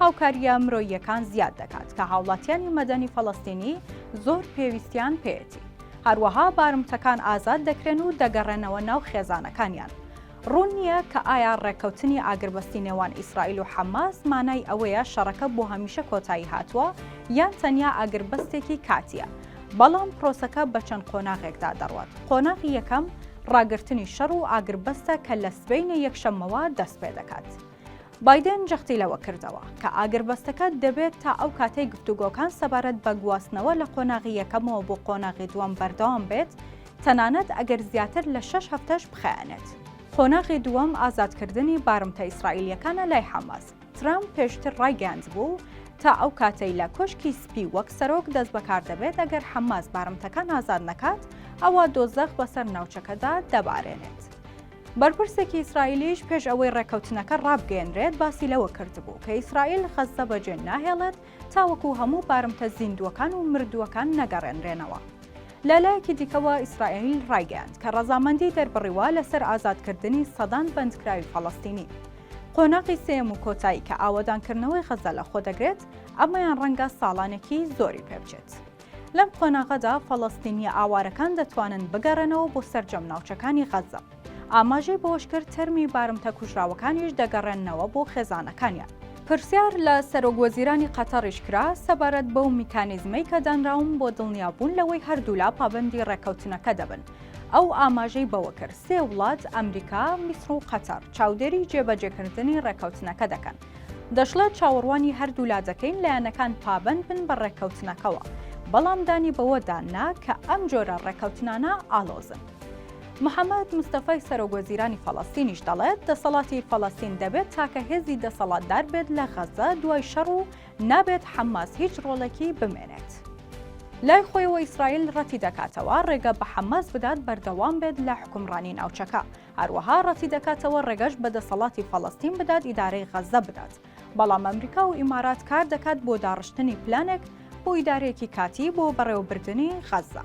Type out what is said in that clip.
هاوکارییە مرۆییەکان زیاد دەکات کە هاوڵاتیانی مەدەنی فەڵەستینی زۆر پێویستیان پێیەتی. هەروەها بارمتەکان ئازاد دەکرێن و دەگەڕێنەوە ناو خێزانەکانیان. ڕوون نییە کە ئایا ڕێککەوتنی ئاگربەستی نێوان ئیسرائیل و حەماس مانای ئەوەیە شەڕەکە بۆ هەمیشە کۆتایی هاتووە یان تەنیا ئاگربەستێکی کاتییە، بەڵام پرۆسەکە بە چەند قۆناغێکدا دەڕوات. قۆناغی یەکەم ڕاگرتنی شەڕ و ئاگربەستە کە لە سبەینێ یەکشەممەوە دەست پێدەکات. بایدن جەختی لەوە کردەوە کە ئاگربەستەکە دەبێت تا ئەو کاتەی گفتوگۆکان سەبارەت بە گواستنەوە لە قۆناغی یەکەمەوە بۆ قۆناغی دووەم بەردەوام بێت، تەنانەت ئەگەر زیاتر لە شەش هەفتەش بخایەنێت. قۆناغی دووەم ئازادکردنی بارمتە ئیسرائیلییەکانە لای حەماس. ترەمپ پێشتر ڕایگەیاندبوو، تا ئەو کاتەی لە کۆشکی سپی وەک سەرۆک دەستبەکار دەبێت، ئەگەر حەماس بارمتەکان ئازاد نەکات، ئەوا دۆزەخ بەسەر ناوچەکەدا دەبارێنێت. بەرپرسێکی ئیسرائیلیش پێش ئەوەی ڕێککەوتنەکە ڕابگەێنرێت باسی لەوە کردبوو کە ئیسرائیل خەززە بەجێ ناهێڵێت تاوەکو هەموو بارمتە زیندووەکان و مردووەکان نەگەڕێنرێنەوە. لە لایەکی دیکەوە ئیسرائیل ڕایگەیاند کە ڕەزامەندی دەربڕیوە لەسەر ئازادکردنی سەدان بەندکراوی فەڵەستینی. قۆناغی سێیەم و کۆتایی کە ئاوەدانکردنەوەی غەززە لەخۆدەگرێت، ئەمەیان ڕەنگە ساڵانێکی زۆری پێبچێت. لەم قۆناغەدا فەڵەستینییە ئاوارەکان دەتوانن بگەڕێنەوە بۆ سەرجەم ناوچەکانی غەززە. ئاماژەی بەوەشکرد، تەرمی بارمتە کوژراوەکانیش دەگەڕێننەوە بۆ خێزانەکانیان. پرسیار لە سەرۆک وەزیرانی قەتەڕیش کرا سەبارەت بەو میکانیزمەی کە دانراون بۆ دڵنیابوون لەوەی هەردوولا پابەندی ڕێککەوتنەکە دەبن، ئەو ئاماژەی بەوەکرد، سێ وڵات، ئەمریکا، میسڕ و قەتەڕ، چاودێری جێبەجێکردنی ڕێککەوتنەکە دەکەن. دەشڵێت چاوەڕوانی هەردوولا دەکەین لایەنەکان پابەند بن بە ڕێککەوتنەکەوە، بەڵام دانی بەوەدا نا کە ئەم جۆرە ڕێککەوتنانە ئاڵۆزن. محەمەد مستەفای سەرۆک وەزیرانی فەڵەستینیش دەڵێت دەسەڵاتی فەڵەستین دەبێت تاکە هێزی دەسەڵاتدار بێت لە غەززە دوای شەڕ و نابێت حەماس هیچ ڕۆڵێکی بمێنێت. لای خۆیەوە ئیسرائیل ڕەتیدەکاتەوە ڕێگە بە حەماس بدات بەردەوام بێت لە حوکمڕانی ناوچەکە، هەروەها ڕەتیدەکاتەوە ڕێگەش بە دەسەڵاتی فەڵەستین بدات ئیدارەی غەززە بدات، بەڵام ئەمریکا و ئیمارات کار دەکات بۆ داڕشتنی پلانێک بۆ ئیدارەیەکی کاتیی بۆ بەڕێوەبردنی غەززە.